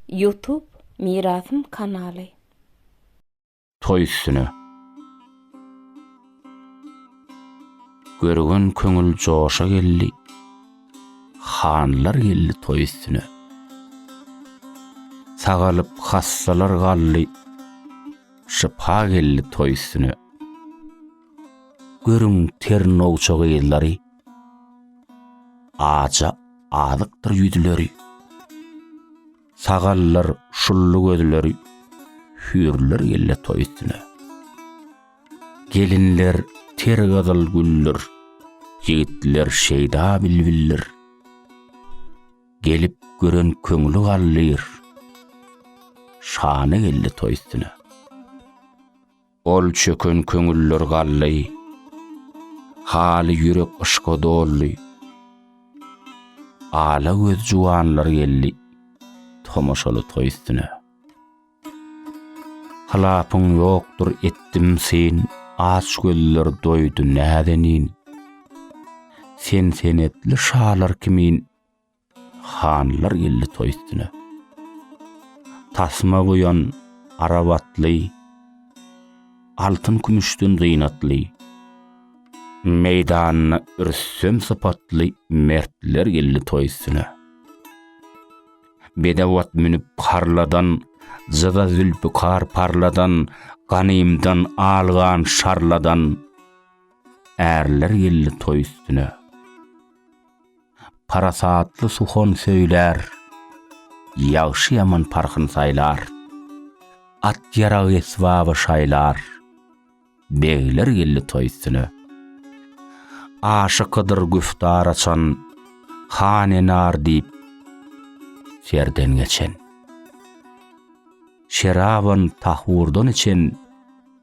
Youtube mirasym kanaly. Toý üstüne. Görügen köňül joşa geldi. Hanlar geldi toý üstüne. Sagalyp hassalar galdy. Şypa geldi toý üstüne. Görüň ter nowça gyzlary. Aja azykdyr ýüzleri, Sagallar şully gözleri, Hüýrler gelle toý üstüne. Gelinler ter gyzyl güldir, Ýigitler şeýda bilbildir. Gelip gören köňli galdyr, Şany gelle toý üstüne. Ol çöken köňüller galdy. Haly ýürek yşka doldy. Ala göz juwanlar geldi. Tomaşaly toý üstüne. Hylapyň ýokdur etdim syn, Aç gözler doýdy näzenin. Sen senetli şalar kimin, Hanlar geldi toý üstüne. Tasma guýan arap atly, Altyn-kümüşden zynatly, Meýdanyna Rüstem sypatly Mertler geldi toý üstüne. Bedew at münüp harladan, Jyda zülpükar parladan, Ganymdan algan şarladan Ärler geldi toý üstüne. Parasatly suhon söýler, Ýagşy-ýaman parhyn saýlar. At-ýarag esbaby şaýlar, Begler geldi toý üstüne. Aşykydyr güftar açan, Hanenar diýip serden geçen. Şeraban tahurdan içen,